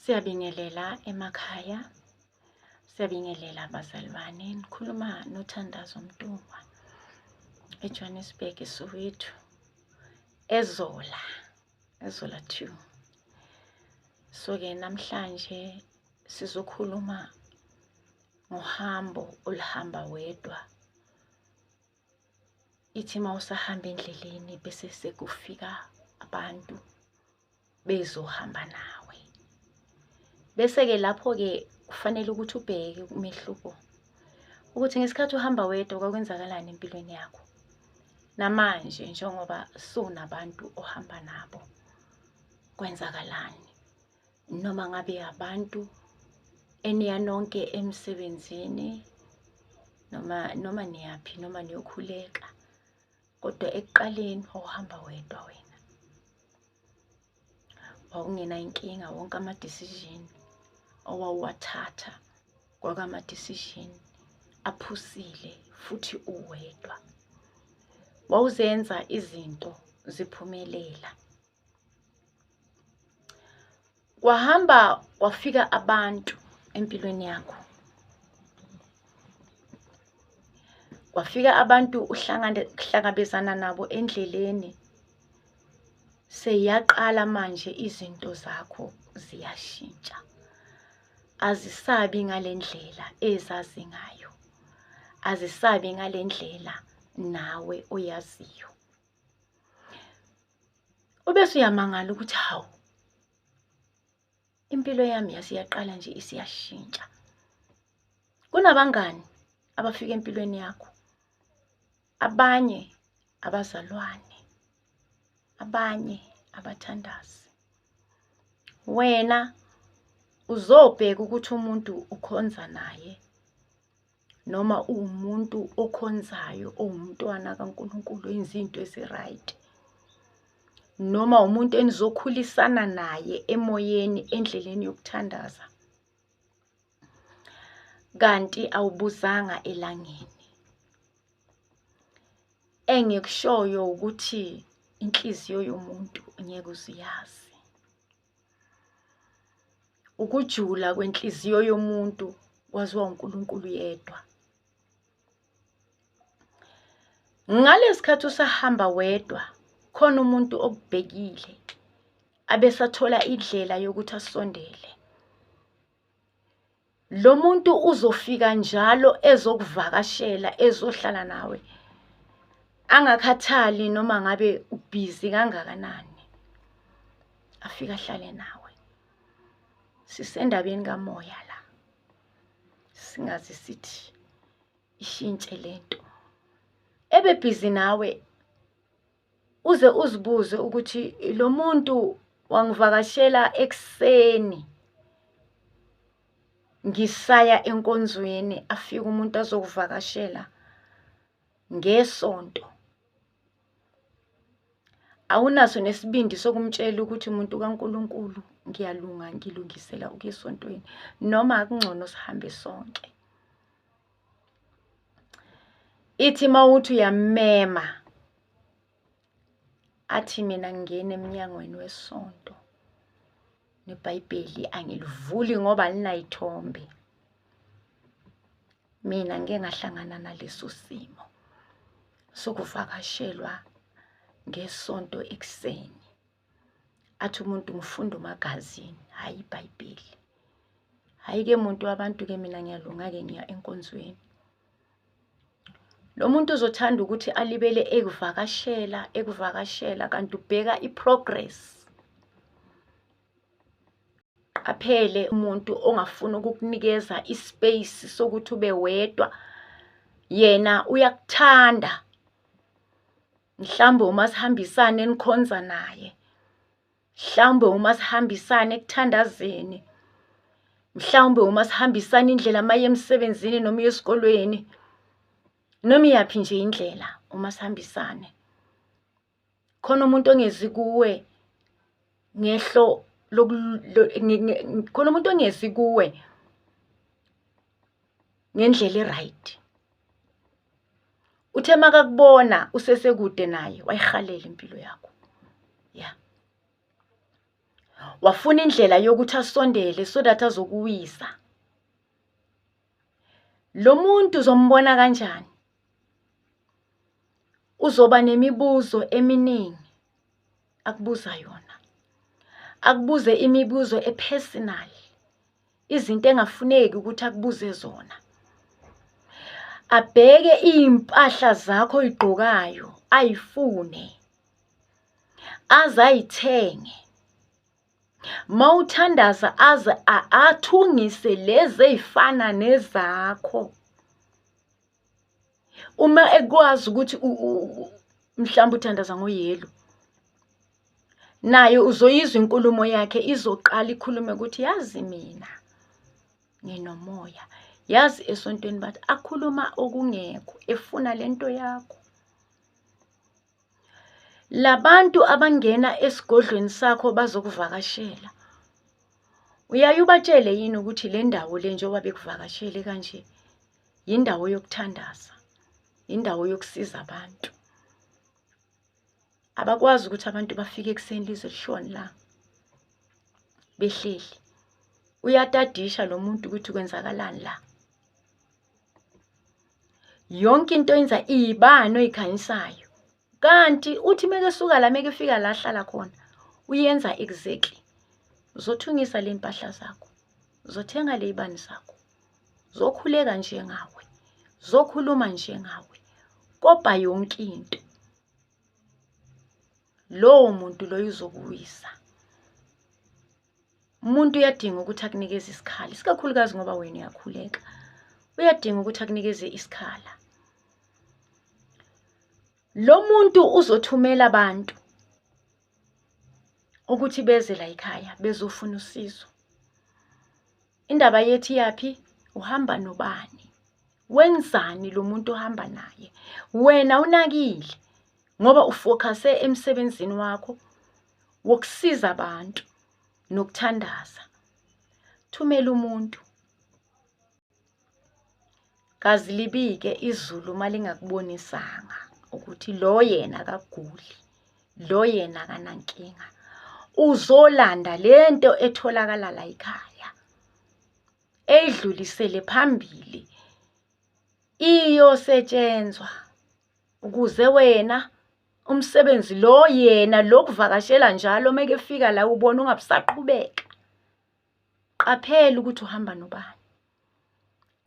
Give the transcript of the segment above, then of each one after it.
Siyabingelela emakhaya, siyabingelela abazalwane. Nikhuluma noThandazo Mntungwa eJohannesburg, eSoweto, eZola, eZola two. So-ke namhlanje sizokhuluma ngohambo oluhamba wedwa. Ithi uma usahamba endleleni bese sekufika abantu bezohamba nawe bese-ke lapho-ke kufanele ukuthi ubheke umehluko ukuthi ngesikhathi uhamba wedwa kwakwenzakalani empilweni yakho namanje njengoba sunabantu ohamba nabo kwenzakalani noma ngabe abantu eniya nonke emsebenzini noma noma niyaphi noma niyokhuleka kodwa ekuqaleni wawuhamba wedwa wena wawungena inkinga wonke ama-decision owawuwathatha kwakama-decision aphusile futhi uwedwa wawuzenza izinto ziphumelela kwahamba kwafika abantu empilweni yakho kwafika abantu uhlangabezana nabo endleleni seyaqala manje izinto zakho ziyashintsha azisabi ngalendlela ezazi ngayo azisabi ngalendlela nawe oyaziyo Ubese uyamangala ukuthi hawu impilo yami yasiyaqala nje isiyashintsha. Kunabangani abafika empilweni yakho. Abanye abazalwane. Abanye abathandazi. Wena uzobheka ukuthi umuntu ukhonza naye noma uwumuntu okhonzayo owumntwana kaNkulunkulu enza into ezi-right noma umuntu enizokhulisana naye emoyeni endleleni yokuthandaza kanti awubuzanga elangeni engikushoyo ukuthi inhliziyo yomuntu ngeke uziyazi ukujula kwenhliziyo yomuntu kwaziwa uNkulunkulu yedwa ngalesikhathi usahamba wedwa khona umuntu okubhekile abesathola indlela yokuthi asondele lo muntu uzofika njalo ezokuvakashela ezohlala nawe angakhathali noma ngabe ubhizi kangakanani afika ahlale nawe sisendabeni kamoya la singazi sithi ishintshe lento ebebhizi nawe uze uzibuze ukuthi lo muntu wangivakashela ekuseni ngisaya enkonzweni afike umuntu azokuvakashela ngesonto awunaso nesibindi sokumtshela ukuthi umuntu kaNkuluNkulu ngiyalunga ngilungisela ukuya esontweni noma akungcono sihambe sonke ithi mawuthi uyamema athi mina ngingena emnyangweni wesonto nebhayibheli angilivuli ngoba linayithombe mina ngike ngahlangana naleso simo sokuvakashelwa ngesonto ekuseni athi umuntu ngifunda umagazini hhayi ibhayibheli hhayi-ke muntu wabantu-ke mina ngiyalunga-ke ngiya enkonzweni lo muntu uzothanda ukuthi alibele ekuvakashela ekuvakashela kanti ubheka i-progress qaphele umuntu ongafuni ukukunikeza i-space sokuthi ube wedwa yena uyakuthanda mhlawumbe umasihambisane enikhonza naye mhlawumbe umasihambisane ekuthandazeni mhlawumbe uma sihambisana indlela maye emsebenzini noma esikolweni noma iyaphi nje indlela uma sihambisane khona umuntu ongezi kuwe ngehlo khona umuntu ongezi kuwe ngendlela e-right uthe makakubona usesekude naye wayihalela impilo yakho ya wafuna indlela yokuthi asondele so that azokuwisa lo muntu uzombona kanjani uzoba nemibuzo eminingi akubuza yona akubuze imibuzo epersonal izinto engafuneki ukuthi akubuze zona abheke iy'mpahla zakho oyigqokayo ayifune aze ayithenge ma uthandaza aze athungise lezi ey'fana nezakho uma ekwazi ukuthi mhlawumbe uthandaza ngoyelo naye uzoyizwa inkulumo yakhe izoqala ikhulume ukuthi yazi mina nginomoya yazi esontweni bathi akhuluma okungekho efuna lento yakho labantu abangena esigodlweni sakho bazokuvakashela uyaye ubatshele yini ukuthi le ndawo le njengoba bekuvakashele kanje yindawo yokuthandaza indawo yokusiza abantu abakwazi ukuthi abantu bafike ekuseni lize lishoni la behleli uyatadisha lo muntu ukuthi kwenzakalani la yonke into yenza iyibani oyikhanyisayo kanti uthi meke suka la meke fika la hlala khona uyenza exactly uzothungisa le mpahla zakho uzothenga le ibani zakho zokhuleka njengawe zokhuluma njengawe kobha yonke into lowo muntu loyo uzokuwisa umuntu uyadinga ukuthi akunikeze isikhala isikakhulukazi ngoba wena uyakhuleka uyadinga ukuthi akunikeze isikhala lo muntu uzothumela abantu ukuthi beze la ekhaya bezofuna usizo indaba yethi yaphi uhamba nobani wenzani lo muntu ohamba naye wena unakile ngoba ufocuse emsebenzini wakho wokusiza abantu nokuthandaza thumela umuntu kazi libike izulu uma lingakubonisanga ukuthi lo yena akaguli lo yena akanankinga uzolanda le nto etholakala la yikhaya eyidlulisele phambili iyosetshenzwa ukuze wena umsebenzi lo yena lokuvakashela njalo mekefika la ubona ungabusaqhubeka qaphela ukuthi uhamba nobani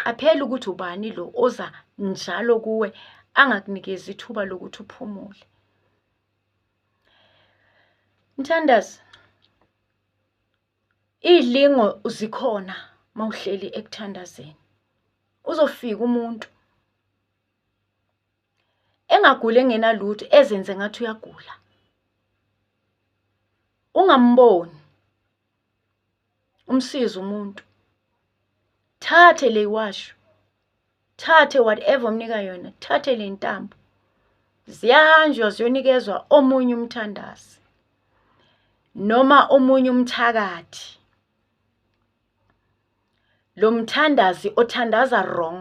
qaphela ukuthi ubani lo oza njalo kuwe angakunikezi ithuba lokuthi uphumule mthandazi iy'lingo zikhona uma uhleli ekuthandazeni uzofika umuntu engaguli engenalutho ezenze ngathi uyagula ungamboni umsize umuntu thathe le washo thathe whatever omnika yona thathe le ntambo ziyahanjwa ziyonikezwa omunye umthandazi noma omunye umthakathi lo mthandazi othandaza wrong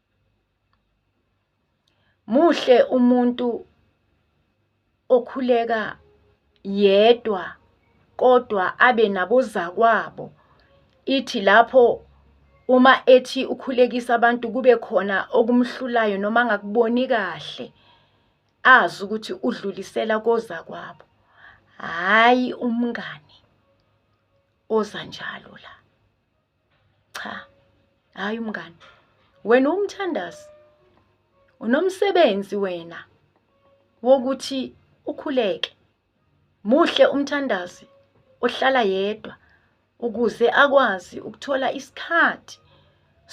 Muhle umuntu okhuleka yedwa kodwa abe nabozakwabo ithi lapho uma ethi ukhulekisa abantu kube khona okumhlulayo noma angakuboni kahle azi ukuthi udlulisela kozakwabo hhayi umngani oza njalo la cha hayi umngani wena umthandazi unomsebenzi wena wokuthi ukhuleke muhle umthandazi ohlala yedwa ukuze akwazi ukuthola isikhathi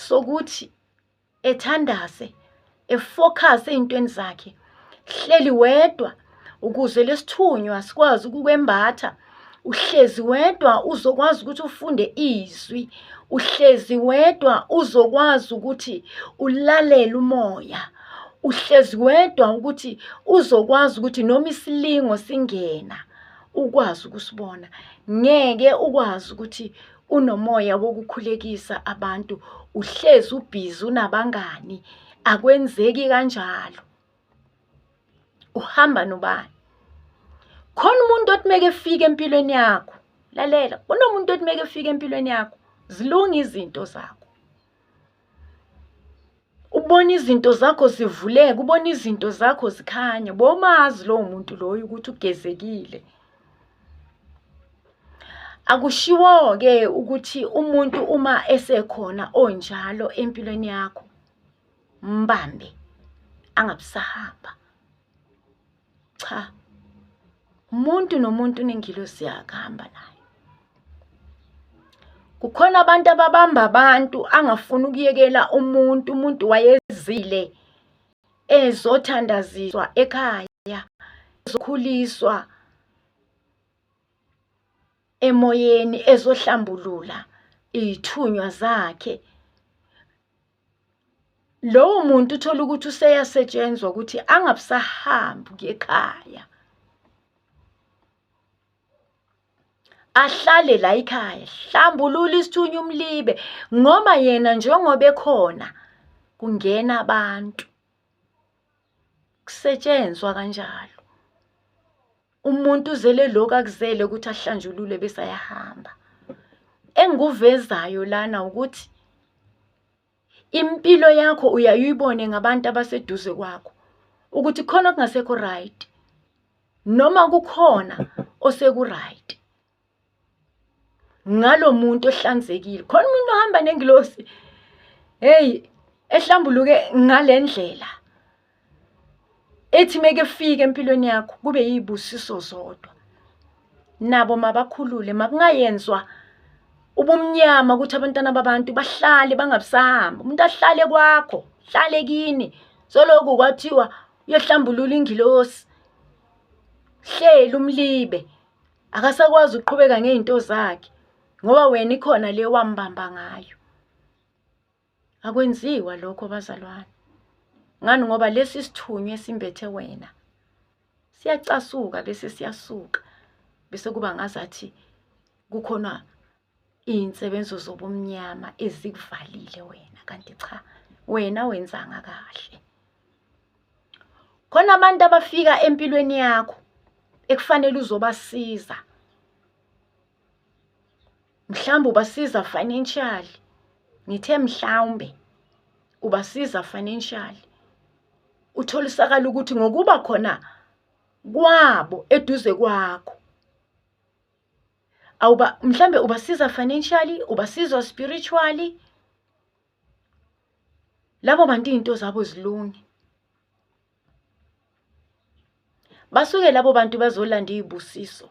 sokuthi ethandaze efocus ey'ntweni zakhe hleli wedwa ukuze lesithunywa sikwazi ukukwembatha uhlezi wedwa uzokwazi ukuthi ufunde izwi uhlezi wedwa uzokwazi ukuthi ulalele umoya uhlezi wedwa ukuthi uzokwazi ukuthi noma isilingo singena ukwazi ukusibona ngeke ukwazi ukuthi unomoya wokukhulekisa abantu uhlezi ubhizi unabangani akwenzeki kanjalo uhamba nobani khona umuntu othi meke efike empilweni yakho lalela kunomuntu othi meke efike empilweni yakho zilunga izinto zakho ubona izinto zakho zivuleka ubona izinto zakho zikhanya bomazi lowo muntu loyo ukuthi ugezekile akushiwo-ke ukuthi umuntu uma esekhona onjalo empilweni yakho mbambe angabusahamba cha umuntu nomuntu unengilosi yakhe ahamba naye kukhona abantu ababamba abantu angafuni ukuyekela umuntu umuntu wayezile ezothandaziswa ekhaya ezokhuliswa emoyeni ezohlambulula iy'thunywa zakhe lowo muntu uthola ukuthi useyasetshenzwa ukuthi angabusahambi kuye ekhaya ahlale la ikhaya hlambulula isithunywa umlibe ngoba yena njengoba ekhona kungena abantu kusetshenzwa kanjalo umuntu uzele lokhu akuzele ukuthi ahlanjulule bese ayahamba engikuvezayo lana ukuthi impilo yakho uyayibone ngabantu abaseduze kwakho ukuthi khona okungasekho right noma kukhona oseku right ngalo muntu ohlanzekile khona umuntu ohamba nengilosi hey ehlambuluke ngalendlela ethi meke fike empilweni yakho kube yibusiso zodwa nabo mabakhulule makungayenzwa ubumnyama ukuthi abantwana babantu bahlale bangabusahamba umuntu ahlale kwakho hlale kini soloku kwathiwa uyohlambulula ingilosi hleli umlibe akasakwazi ukuqhubeka ngey'nto zakhe ngoba wena ikhona le wambamba ngayo akwenziwa lokho bazalwane ngani ngoba lesi sithunywa esimbethe wena siyacasuka bese siyasuka bese kuba ngazathi kukhona iy'nsebenzo zobumnyama ezikuvalile wena kanti cha wena wenzanga kahle khona abantu abafika empilweni yakho ekufanele uzobasiza mhlawumbe ubasiza financially ngithe mhlawumbe ubasiza financially utholisakala ukuthi ngokuba khona kwabo eduze kwakho awuba mhlambe ubasiza financially ubasiza spiritually labo bantu izinto zabo zilunge basuke labo bantu bazolanda izibusiso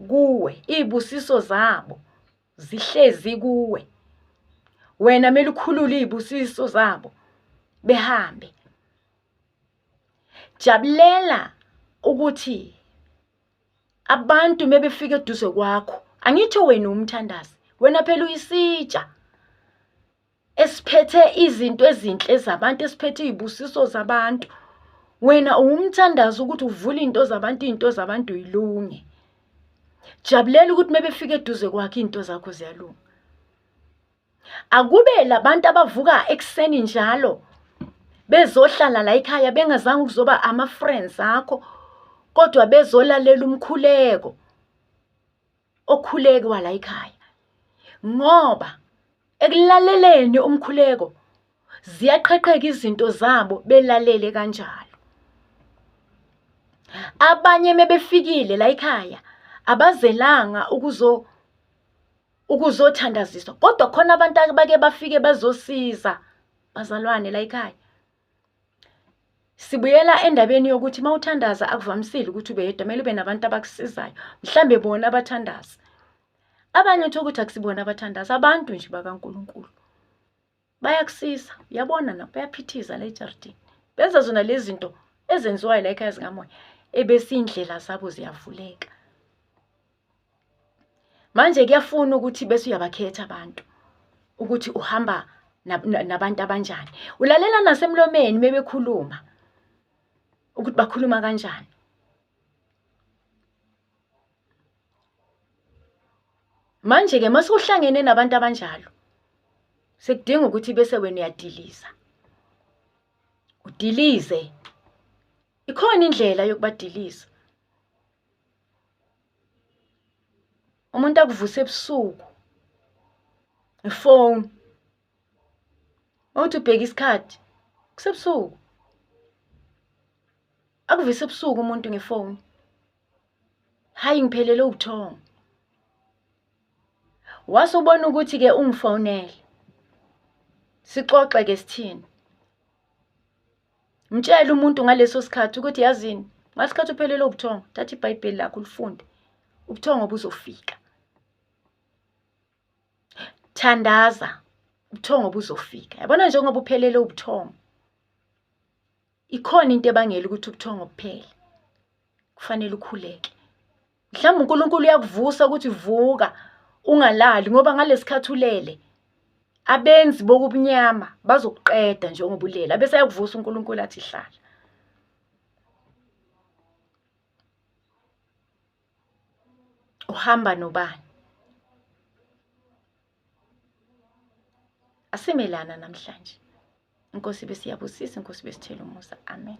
kuwe izibusiso zabo zihlezi kuwe wena mele ukhulule izibusiso zabo behambe jabulela ukuthi abantu mebefika eduze kwakho angitsho wena umthandazi wena phela uyisitsha esiphethe izinto ezinhle zabantu esiphethe izibusiso zabantu wena uwumthandazi ukuthi uvule into zabantu into zabantu yilunge jabulela ukuthi mebefika eduze kwakhe into zakho ziyalunga Akube labantu abavuka ekuseni njalo bezohlala la ekhaya bengazange ukuzoba ama-friends akho kodwa bezolalela umkhuleko okhuleke wala ekhaya ngoba ekulaleleni umkhuleko ziyaqhaqheka izinto zabo belalele kanjalo abanye mebefikile la ekhaya abazelanga ukuzo ukuzothandaziswa kodwa khona abantu abake bafike bazosiza bazalwane la ekhaya sibuyela endabeni yokuthi uma uthandaza akuvamisile ukuthi ube yedwa kumele ube nabantu abakusizayo mhlambe bona abathandazi abanye uthola ukuthi akusibona abathandazi abantu nje bakaNkulunkulu bayakusisa uyabona na bayaphithiza la ejaridini benza zona lezi zinto ezenziwayo la ekhaya zikamoya ebese iy'ndlela zabo ziyavuleka manje kuyafuna ukuthi bese uyabakhetha abantu ukuthi uhamba nabantu abanjani ulalela nasemlomeni mebekhuluma ukuthi bakhuluma kanjani Manje-ke uma sewuhlangene nabantu abanjalo sekudinga ukuthi bese wena uyadiliza udilize ikhona indlela yokubadiliza umuntu akuvuse ebusuku ngefoni mawuthi ubheka isikhathi kusebusuku akuvise ebusuku umuntu ngefoni hayi ngiphelele ubuthongo wase ubona ukuthi-ke ungifonele sixoxe-ke sithini mtshele umuntu ngaleso sikhathi ukuthi yazini ngasikhathi uphelele ubuthongo thatha ibhayibheli lakho ulifunde ubuthongo buzofika thandaza ubuthongo buzofika yabona njengoba uphelele ubuthongo ikhona into ebangela ukuthi ubuthongo buphele kufanele ukhuleke mhlawumbe uNkulunkulu uyakuvusa ukuthi vuka ungalali ngoba ngalesikhathi ulele abenzi bokubunyama bazokuqeda njengoba ulele abese ayakuvusa uNkulunkulu athi hlala uhamba nobani asimelana namhlanje inkosi besiyabusisa inkosi besithela umusa amen